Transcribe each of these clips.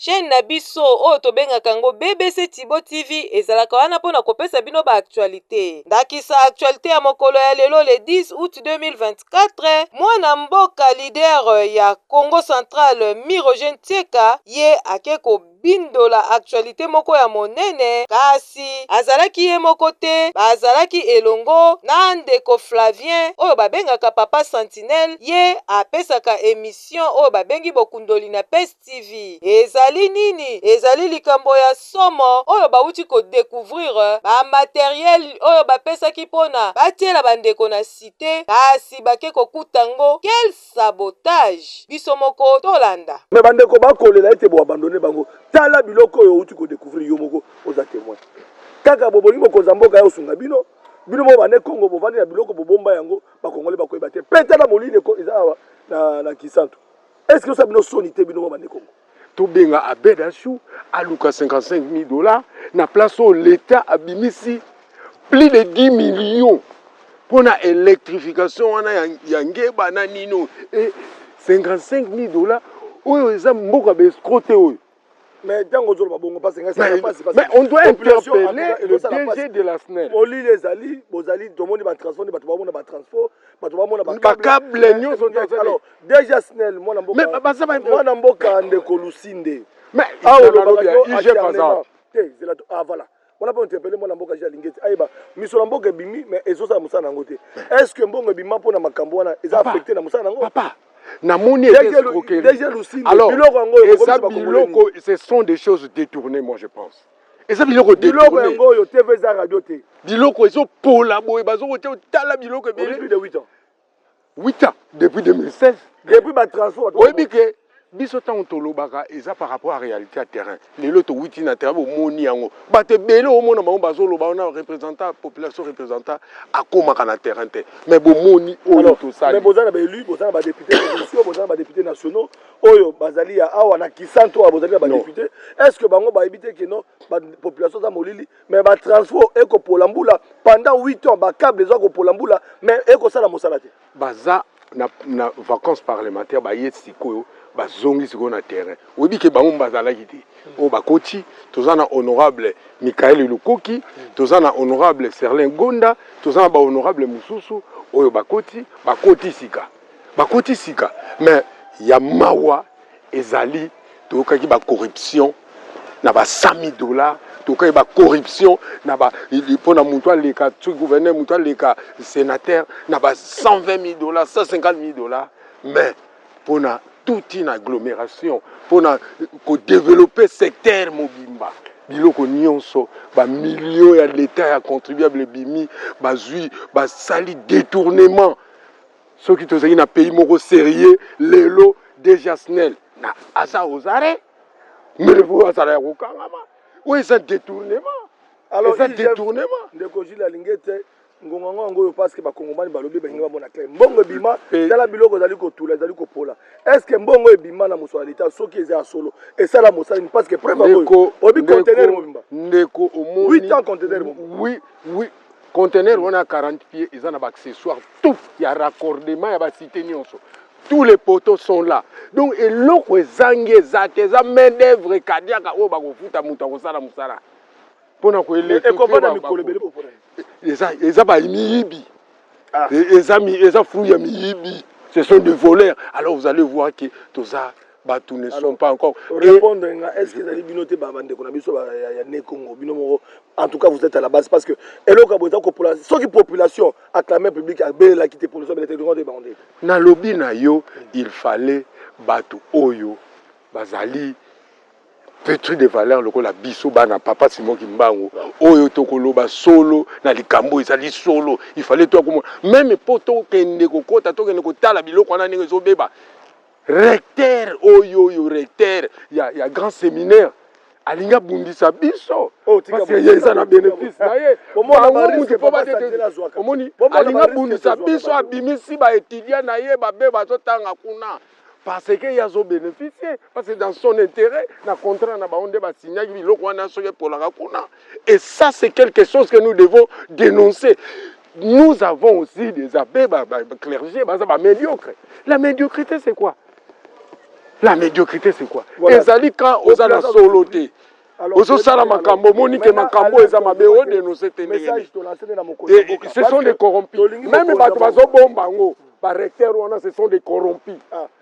Chaine na biso oyo tobengaka yango BBC Tibo TV ezalaka wana mpo na kopesa bino ba actualite. Ndakisa actualite ya mokolo ya lelo le 10 août 2024, mwana mboka leader ya Congo Central Mi Roger Ntieka ye ake ko Bindola actualite moko ya monene kasi azalaki ye moko te bazalaki elongo na ndeko Flavien oyo babengaka papa sentinelle ye apesaka emission oyo babengi bokundoli na pes TV ezali nini ezali likambo ya somo oyo bawuti ko decouvrir ba materiel oyo bapesaki pona batiela ba ndeko na cite kasi bake kokuta ngo quel sabotage biso moko tolanda. Mais ba ndeko ba kolela ete bo abandonner bango tala biloko oyo owuti ko decouvrir yo moko oza temoin kaka bo bolingi mokonzi ya mboka aya osunga bino bino moko ba ne kongo bo vandi na biloko bo bomba yango ba kongolais ba koyeba te pe tala molili eko eza awa na na kisantu est ce que ezo sala bino soni te bino moko ba ne kongo. Tobenga Abed Ashou aluka 55.000 dollars na place oyo l'etat abimisi plus de 10 millions mpo na electrification wana ya, ya ngeba na nino e 55.000 dollars oyo eza mboka bescro te oyo mais ntango ozoloba bongo mpasi ngai esala mpasi mais on doit interpeller le DG de la SNEL olili ezali bozali tomoni batransport nde bato bamona batransport bato bamona bakable nyonso alors Deja Snel mwana mboka. Mais baza ba mwana mboka ndeko Lusinde. Mais ah olobaka yo IG baza. Te zela to ah voilà. Wana mpo interpelle mwana mboka je alingeti ayeba miso na mboka ebimi mais ezosala mosala yango te. Est ce que mbongo ebima mpo na makambo wana eza affecté na mosala yango? Papa. namoni alors eza biloko ce sont des choses détournées moi je pense eza biloko biloko yango oyo tv eza radio te biloko ezopola boye bazokotia otala biloko ebele 8 ans depuis 2016 depuis ba transport oyebi ke biso ntango tolobaka eza par rapport à réalité ya terrain lelo towiti na terrain bomoni yango bato ebele omona bango bazoloba wana représentant population représentant akomaka na terrain te mais bomoni oyo tosali boza na baelu boza na badepute provinciaux boza na badepute nationaux oyo bazali ya awa na kisantu awa bozali na badepute est ce que bango bayebi te keno bapopulation aza molili mais ba transfo eko pola mbula pendant 8 ans ba cable ezo ko pola mbula mais eko sala mosala te baza na, na vacances parlementaires baye sikoyo bazongi sikoyo na terrain oyebi ke bango bazalaki te oyo oh, bakoti toza na honorable mikaele lukoki toza na honorable serlin gonda toza na bahonorable mosusu oyo bakoti bakoti sika bakoti sika mais ya mawa ezali toyokaki ba corruption na ba 100000 dollars toyokaki ba corruption na ba mpo na moto aleka soki gouverneur moto aleka sénateur na ba 120000 dollars 150000 dollars mais mpo na toute une agglomération mpo na kodeveloppe secteur mobimba biloko nyonso bamilio ya leta ya contribuable ebimi bazwi basali détournement soki tozali na pays moko serieux lelo deja snel na aza ozare mbele po azala ya kokangama oyo eza détournement eza détournement ndeko jile alingi ete ngonga ngo yango oyo parceke bakongomani balobi balingi bamona clair mbongo ebima tala biloko ezali kotula ezali kopola est ce que mbongo ebima na mosolo ya leta soki eza ya solo esala mosala nini parceke preuve yango oyebi contener mobimba ndeko omoni 8 ans contener mobimba oui oui contener wana 40 pied eza na baaccessoire tout ya raccordement ya ba cite nionso tous les poteaux sont là donc eloko ezangi eza te eza main d'œuvre kadiaka oyo bakofuta moto akosala mosala mpona koeleza bamiyibi ah. e, eza fruit ya miyibi ce sont des voleurs alors vous allez voir que toza bato ne sont pas encore répondre nga est ce que ezali bino te bandeko na biso ya ne congo bino moko en tout cas vous êtes à la base parce que eloko ya boza kopola soki population acclame public abelelaki te population abelete tokote bango nde nalobi na yo il fallait bato oyo bazali petri de valeur lokola biso bana papa simo kimbangu oyo tokoloba solo na likambo ezali solo il fallait toya komona meme mpo tokende kokota tokende kotala biloko wana ndenge ezobeba Recteur oyo oyo recteur ya, ya grand seminaire alingi abundisa biso oh, parce que ye eza na bénéfice na ye bango mutu mpo batete omoni alingi abundisa biso abimisi baétudiant na ye babe bazotanga kuna parce que ye azobénéficie parce que dans son intérêt na contrat na bango nde basignaki biloko wana soki epolaka kuna et ça c'est quelque chose que nous devons dénoncer Nous avons aussi des abbes, ba, ba, ba clergés, baza ba médiocres. La médiocrité c'est quoi La médiocrité c'est quoi voilà. Ezali quand oza na solo te. Ozo sala makambo moni ke makambo eza mabe o dénoncer te ndenge. Ce sont des corrompus. Même bato bazo bomba ngo ba recteurs wana ce sont des corrompus. Ah.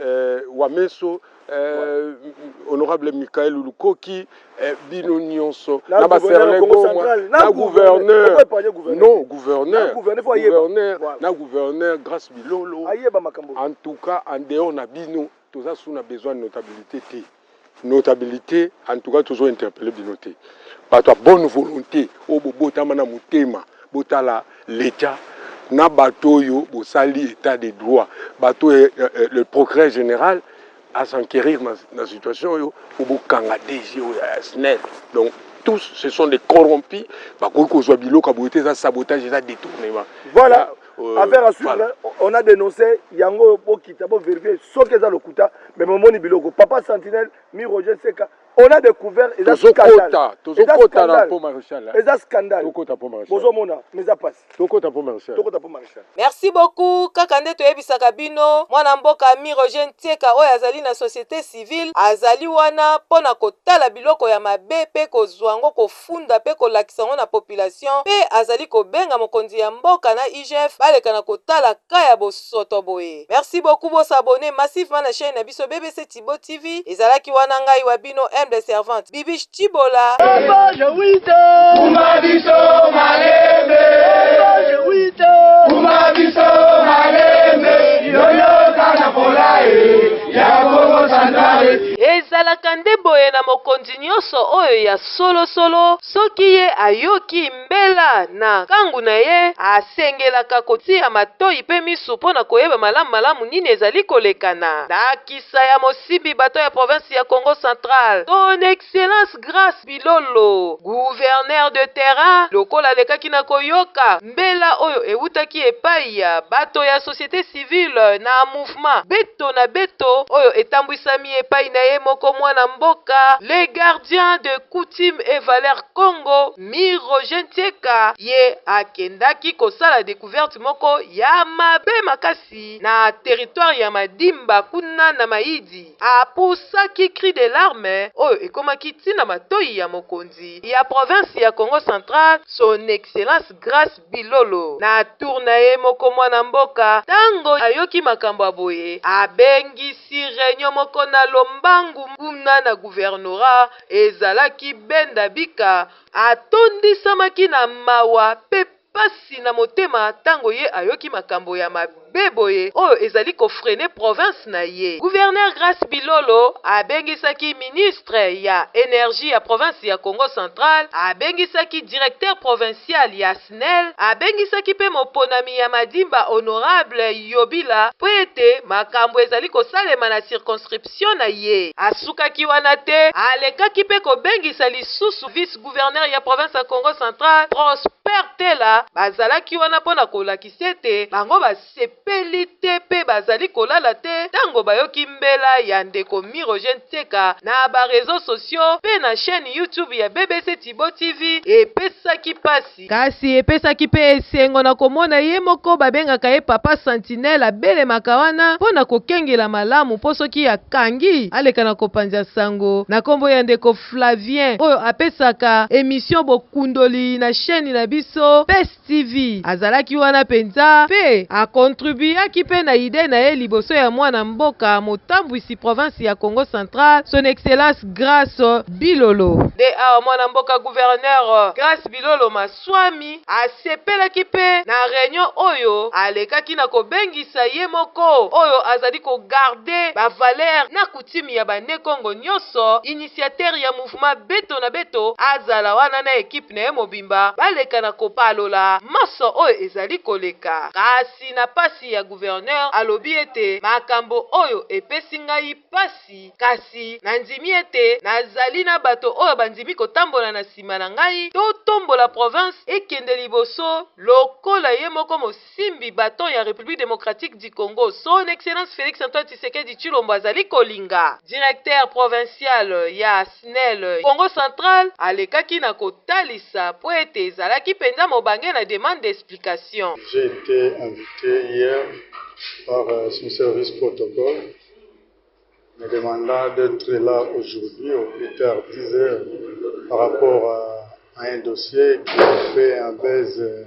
eh, wameso eh, honorable Michael Lukoki eh, bino nionso na ba serle goma na gouverneur non gouverneur gouverneur na gouverneur grâce bilolo en tout cas en dehors na bino toza sous na besoin de notabilité te Notabilite en tout cas tozo interpelle bino te batu ya bonne volonte oyo bobotama na motema botala l'etat na batu oyo bosali etat de droit batu oyo eh, eh, eh, le procureur general à s'enquérir na, na situation oyo po bokanga DG oyo ya SNEL donc tous ce sont des corrompus bakoki kozwa biloko ya boye te eza sabotage eza détournement voilà Euh, affaire à suivre voilà. on a dénoncé yango bokita bo vérifier soki eza lokuta mais bomoni biloko papa sentinelle mi roger seka on a découvert eza scandale tozokota na po maréchal eza scandale tokota po maréchal bozomona mais eza pasi tokota po maréchal tokota po maréchal merci beaucoup kaka nde toyebisaka bino mwana mboka mi roger ntieka oyo azali na société civile azali wana mpo na kotala biloko ya mabe mpe kozwa yango kofunda pe kolakisa yango na population pe azali kobenga mokonzi ya mboka na IGF baleka na kotala cas ya bosoto boye. Merci beaucoup bo s'abonner massivement na chaine na biso BBC Tshibo TV ezalaki wana ngai wa bino humble servante Bibiche Tshibola. Elevage wite. Kuma biso malembe. Elevage wite. Kuma biso malembe. Yoyo kana polae. Ya Kongo Centrale. Ezalaka nde boye na mokonzi. nyonso oyo ya solosolo, soki ye ayoki mbela na nkangu na ye, asengelaka kotia matoyi mpe miso mpo na koyeba malamu malamu nini ezali koleka. Na ndakisa ya mosimbi bato ya province ya Kongo central, Son Excellence Grace Bilolo, gouverneur de terrain, lokola alekaki na koyoka mbela oyo ewutaki epayi ya bato ya societe civile na politiquement beto na beto oyo etambwisami epai na ye moko mwana mboka le gardien de coutume et valeur Congo Mi Roger Ntieka ye akendaki kosala decouverte moko ya mabe makasi na territoire ya Madimba kuna na Mayidi a poussaki cri de larme oyo ekomaki ti na matoyi ya mokonzi ya province ya Kongo central son excellence Grace Bilolo na tour na ye moko mwana mboka tango ayoki makambo ya boye abengisi reunion moko na lombangu kuna na gouvernorat ezalaki benda bika atondisamaki na mawa pe pasi na motema tango ye ayoki makambo ya mabe be boye oyo ezali ko freiner province na ye. Gouverneur Grace Bilolo abengisaki ministre ya Energie ya province ya Kongo central, abengisaki directeur provincial ya Snel, abengisaki mpe moponami ya Madimba honorable Yobila mpo ete makambo ezali kosalema na circonscription na ye. Asukaki wana te, alekaki mpe kobengisa lisusu vice-gouverneur ya province ya Kongo central, Prosper Tela, bazalaki wana mpo na kolakisa. ete bango basepeli te mpe bazali kolala te tango bayoki mbela ya ndeko Mirogene Tseka na ba reseaux sociaux mpe na chaine YouTube ya BBC Thibault TV epesaki pasi, kasi epesaki mpe esengo na komona ye moko babengaka ye Papa Sentinelle abelemaka wana mpo na kokengela malamu mpo soki akangi aleka na kopanza sango na kombo ya ndeko Flavien oyo apesaka emission Bokundoli na chaine na biso. TV. Azalaki wana mpenza, mpe a contribuaki mpe na idee na ye liboso ya mwana mboka, motambwisi province ya Kongo central, Son Excellence Grace Bilolo. Nde awa mwana mboka gouverneur Grace Bilolo Maswami asepelaki mpe na reunion oyo alekaki na kobengisa ye moko oyo azali ko garder ba valeurs na Team ya ba ne kongo nyoso initiateur ya mouvement beto na beto azala wana na equipe na ye mobimba baleka na kopalola manso oyo ezali koleka kasi na pasi ya gouverneur alobi ete makambo oyo epesi ngai pasi kasi na ndimi ete na zali na bato oyo ba ndimi kotambola na sima na ngai to tombola province ekende liboso lokola ye moko Simbi baton ya Republique democratique du Congo, Son Excellence Felix Antoine Tshisekedi Tshilombo azali kolinga, Directeur provincial ya Snel Kongo central alekaki na kotalisa mpo ete ezalaki mpenza mobange na demande d'explication. J'ai ete invite hier par son service protocole me demandant d'etre là aujourd'hui au plus tard 10 heures par rapport à un dossier qui a fait un buzz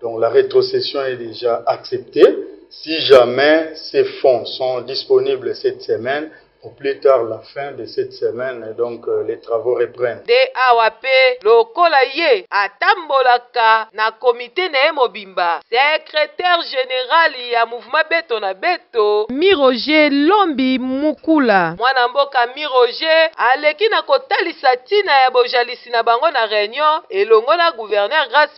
Donc la retrocession est dejà acceptee si jamais ces fonds sont disponibles cette semaine au plus tard la fin de cette semaine donc les travaux reprennent. Nde awa pe lokola ye atambolaka na comite na ye mobimba, secretaire general ya mouvement Beto na Beto, Mi Roger Lombi Mukula, mwana mboka Mi Roger aleki na kotalisa tina ya bojalisi na bango na reunion elongo na gouverneur Grace Mutamba,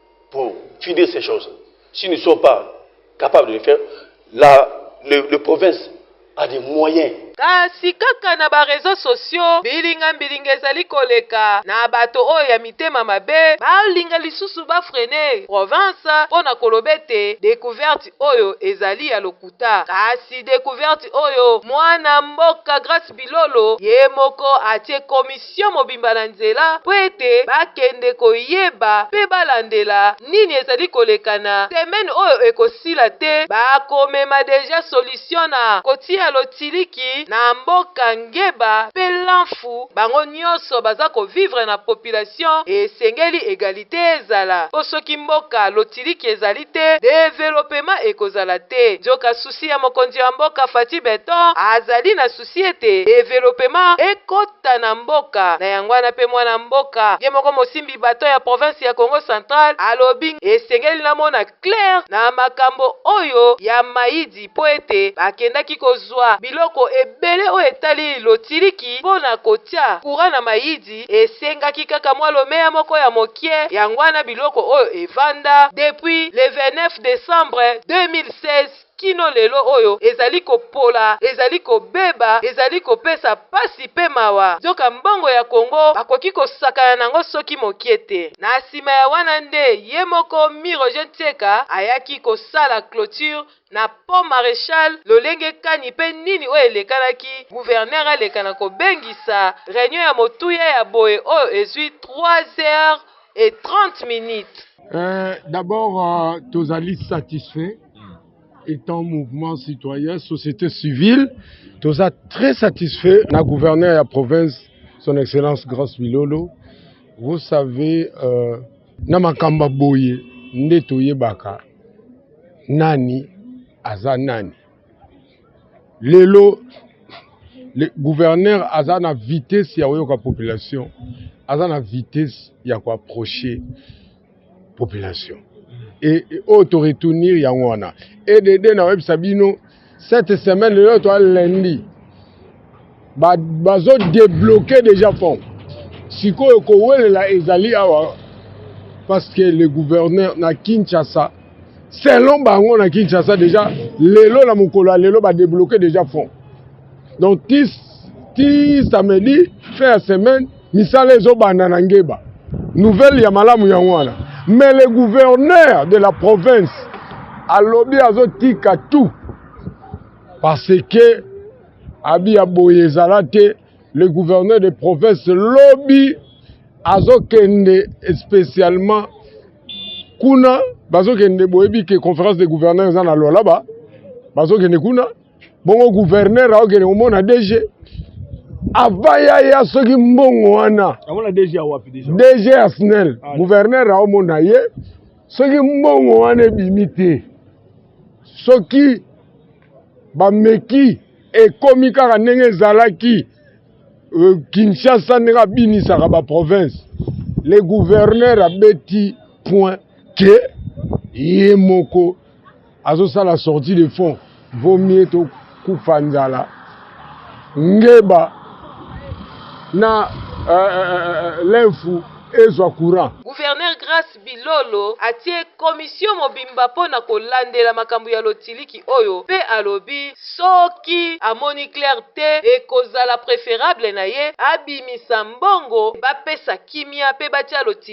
pour fider ces choses si nous ne sommes pas capable de le faire la le, le province a des moyens Kasi kaka na ba reseaux sociaux, mbilinga mbilinga ezali koleka na bato oyo ya mitema mabe balinga lisusu ba freiner province mpo na koloba ete decouverte oyo ezali ya lokuta. Kasi decouverte oyo mwana mboka Grace Bilolo ye moko atie commission. sio mobimba na nzela mpo ete bakende koyeba mpe balandela nini ezali koleka na semaine oyo ekosila te bakomema deja solution na kotia lotiliki na mboka ngeba mpe lanfu bango nioso baza ko vivre na population esengeli egalite ezala mpo soki mboka lotiliki ezali te developement ekozala te nzoka souci ya mokonzi wa mboka Fatshi beton azali na si ete developema ekota na mboka na yango wana mpe mwana mboka ye moko mosimbi baton ya province ya Kongo central alobi esengeli namona claire na makambo oyo ya mayidi mpo ete bakendaki kozua biloko ebele oyo etali lotiliki mpo na kotia courant na mayidi esengaki kaka mwa lomeya moko ya mokie yango wana biloko oyo evanda depuis le 29 decembre 2016 kino lelo oyo ezali kopola, ezali kobeba, ezali kopesa pasi pe mawa, nzoka mbongo ya Congo bakoki kosakana na yango soki mokie te. Na sima ya wana nde ye moko Mi Roger Ntseka ayaki kosala cloture na Pont Marechal, lolenge kani pe nini oyo elekanaki Gouverneur aleka na kobengisa reunion ya motuya ya boye oyo ezui trois heures et trente minutes. Ee, d'abord tozali satisfait étant mouvement citoyen société civile toza très satisfait na gouverneur ya province son excellence grace bilolo vous savez euh, na makambo ya boye nde toyebaka nani aza nani lelo le gouverneur aza na vitesse ya koyoka population aza na vitesse ya koapproche population et oyo to retournir yango wana edd na oyebisa bino cette semaine lelo toa lundi bazo débloquer déjà fond sikoyo kowelela ezali awa parce que le gouverneur na kinshasa selon bango na kinshasa déjà lelo na mokolo ya lelo badébloquer déjà fond donc ti ti samedi fin ya semaine Misala ezo banda na ngeba. Nouvelle ya malamu yango wana. Mais le gouverneur de la province alobi azo tika tout parce que abi ya boye ezala te le gouverneur de province lobi azokende spécialement kuna bazokende boyebi ke conférence de gouverneur eza na lwalaba bazokende kuna bongo gouverneur aokende komona dg avant yaya soki mbongo wana dg ya snel ah, gouverneur aomona ye soki mbongo wana ebimi te soki bameki ekomi kaka ndenge ezalaki euh, kinshasa ndenge abinisaka baprovince le gouverneur abeti point ke ye moko Azosala sortie de fond vaut mieux to kufa nzala ngeba na uh, uh, l'infu ezwa courant Gouverneur Grace Bilolo atie commission mobimba mpo na kolandela makambo ya lotiliki oyo mpe alobi soki amoni clair te ekozala preferable na ye abimisa mbongo bapesa kimia mpe batia lotiliki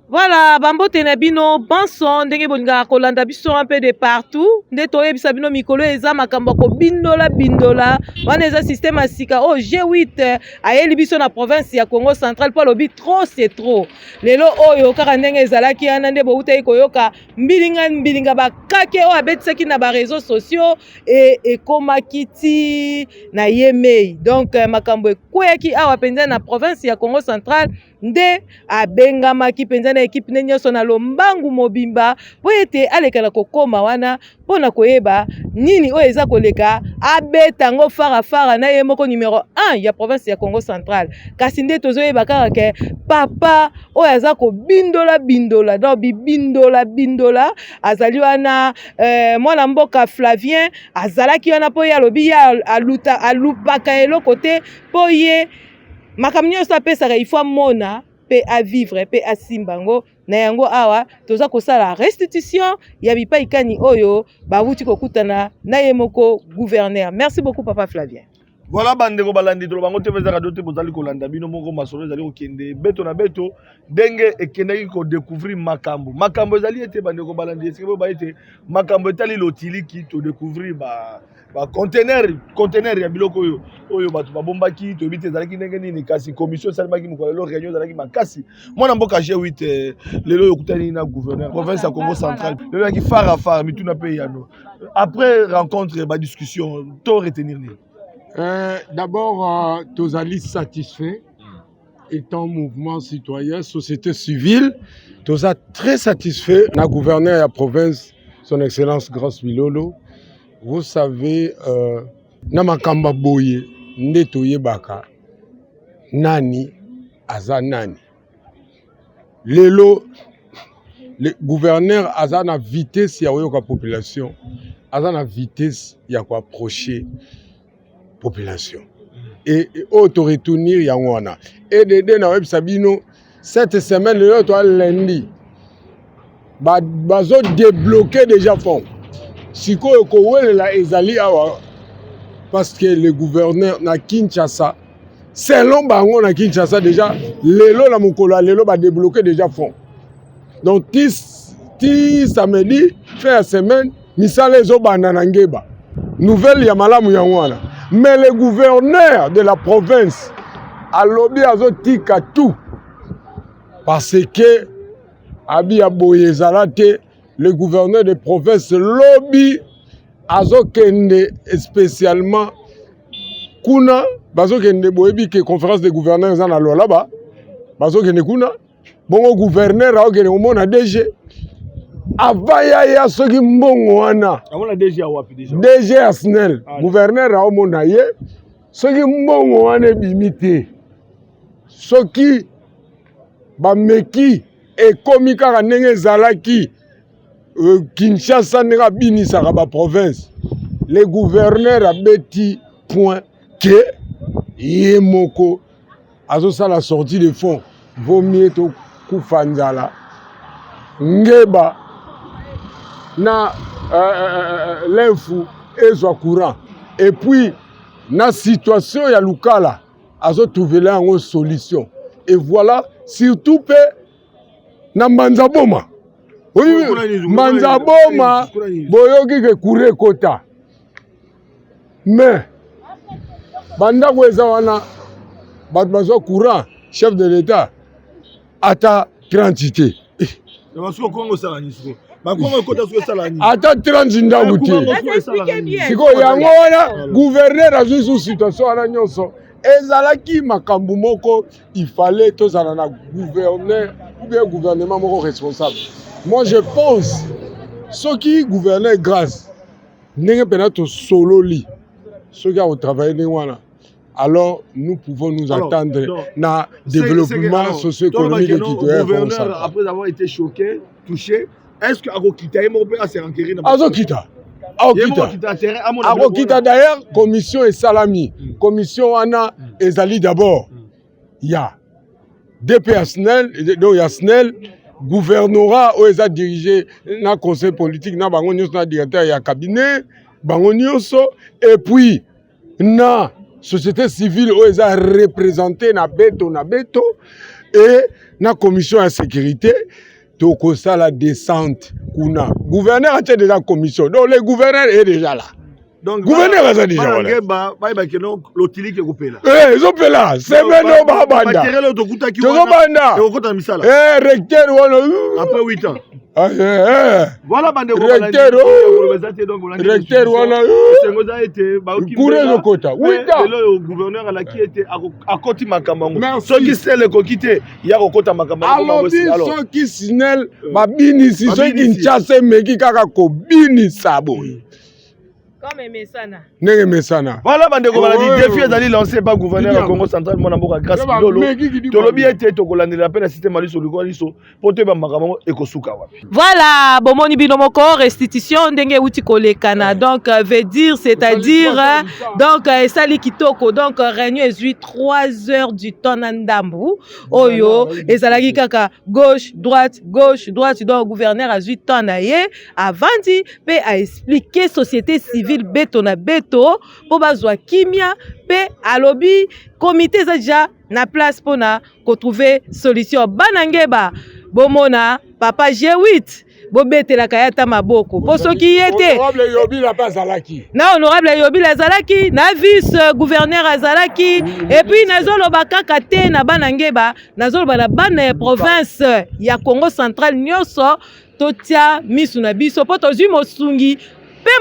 Voilà, bambote na bino banso ndenge bolingaka kolanda biso un peu de partout nde toyebisa bino mikolo eza makambo ya kobindola bindola wana eza système ya sika oyo oh, G8 ayeli biso na province ya Congo central mpo alobi trop c'est trop lelo oyo kaka ndenge ezalaki wana nde boutaki koyoka mbilinga mbilinga bakake oyo abetisaki na bareseau sociaux e, ekomaki ti na yemei donc makambo ekweyaki awa mpenza na province ya Congo central nde abengamaki mpenza na ekipe ne nyonso na lombangu mobimba mpo ete aleka na kokoma wana mpo na koyeba nini oyo eza koleka abeta yango farafara na ye moko numero 1 ya province ya congo central kasi nde tozoyeba kaka ke papa oyo aza kobindola bindola donc bibindola bindola azali wana eh, mwana mboka flavien azalaki wana mpo ye alobi ye aluta alupaka eloko te mpo ye makambo nyonso apesaka il faut amona mpe avivre mpe asimba yango na yango awa toza kosala restitution ya bipai kani oyo bawuti kokutana na ye moko gouverneur merci beaucoup papa flavien voilà bandeko balandi toloba yango te vezaka do te bozali kolanda bino moko masolo ezali kokende beto na beto ndenge ekendaki kodecouvrir makambo makambo ezali ete bandeko balandi esike boyeba ete makambo etali lotiliki todecouvrir ba ba conteneur conteneur ya biloko oyo oyo bato babombaki toyebi te ezalaki ndenge nini kasi commission esalemaki mokolo lelo réunion ezalaki makasi mwana mboka g8 eh, lelo oyo okutani na gouverneur province ya congo central lelo yaki far a far mituna mpe yano après rencontre badiscussion to retenir nini euh, d'abord euh, tozali satisfait étant mouvement citoyen société civile toza très satisfait na gouverneur ya province son excellence grace bilolo Vous savez, euh, na makambo ya boye nde toyebaka nani aza nani. Lelo le gouverneur aza na vitesse ya koyoka population, aza na vitesse ya koapproche population et oyo to retournir yango wana edd na oyebisa bino cette semaine lelo toa lundi bazo débloquer déjà fond sikoyo kowelela ezali awa parce que le gouverneur na kinshasa selon bango na kinshasa déjà lelo na mokolo ya lelo badébloquer déjà fond donc ti, ti samedi fin ya semaine misala ezobanda na ngeba nouvelle ya malamu yango wana mais le gouverneur de la province alobi azotika tout parce que abi ya boye ezala te le gouverneur de province lobi azokende spécialement kuna bazokende boyebi ke conférence de gouverneur eza na lwalaba bazokende kuna bongo gouverneur aokende komona DG avant yaya soki mbongo wana DG ya snel ah, gouverneur aomona ye soki mbongo wana ebimi te soki bameki ekomi kaka ndenge ezalaki euh, kinshasa ndenge abinisaka baprovince le gouverneur abeti point ke ye moko azosala sortie de fond vaut mieux tokufa nzala ngeba na euh, euh, euh, l'infu ezwa courant et puis na situation ya lukala azotrouvela yango solution et voilà surtout mpe na mbanza boma oyi mbanza boma boyoki ke kure ekota mais bandako eza wana bato bazwa courant chef de l'etat ata 30 te ata 30 ndako te sikoyo yango wana guverner azwi su situation wana nyonso ezalaki makambo moko ifale tozala na gouverneur oubien gouvernement moko responsable moi je pense soki gouverneur grâce ndenge mpena tosololi soki akotravaille ndenge wana alors nous pouvons nous alors, attendre non, na développement socio-économique ekitoyagouverneur après avoir été choqué touché est ce que akokita ye moko mpe ase enquérir na azokita akokita d'ailleurs commission esalami mm. commission wana mm. ezali d'abord mm. ya DP ya SNEL donc ya SNEL gouvernorat oyo eza dirige na conseil politique na bango nyonso na directeur ya cabinet bango nyonso et puis na société civile oyo eza représente na beto na beto et na commission ya sécurité tokosala descente kuna gouverneur atie deja commission donc le gouverneur est deja là donc gouverneur aza deja wana eh, ezopela semaine oyo babanda tozobanda eh, recteur wana ah, eh, recteur wana kura ezokota wita soki sele ekoki te ya kokota makambo alobi soki sinel euh, babinisi soki kinshasa emeki kaka kobinisa boye mm. ndenge emesana wana bandeko baladi defi ezali lance epa gouverneur ya congo central mwana mboka grace bilolo tolobi ete tokolandela mpe na systeme ya liso likola liso mpo toyeba makambo yango ekosuka wapi Voilà, bomoni bino moko restitution ndenge euti kolekana. Donc euh, veut dire c'est-à-dire euh, donc euh, esali kitoko. Donc réunion ezui 3 heures du temps na ndambu. Oyo ezalaki kaka gauche droite gauche droite donc gouverneur azui temps na ye avandi pe a expliquer société civile beto na beto po bazwa kimia pe alobi comité eza déjà na place pona kotrouve solution bana ngeba bomona papa g8 bobetelaka ye ata maboko mpo soki ye te na honorable yobila azalaki na vice gouverneur azalaki epuis nazoloba kaka te na bana ngeba nazoloba na bana ya province ya congo central nyonso totya misu na biso mpo tozwi mosungi mpe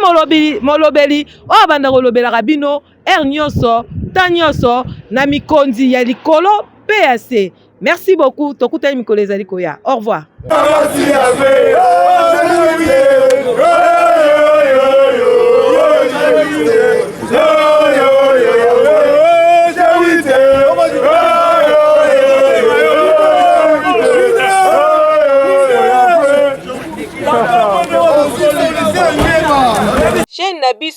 molobeli oyo abanda kolobelaka bino heure nyoso temps nyoso na mikonzi ya likolo pe ya se merci beaucoup tokutani mikolo ezali koya au revoir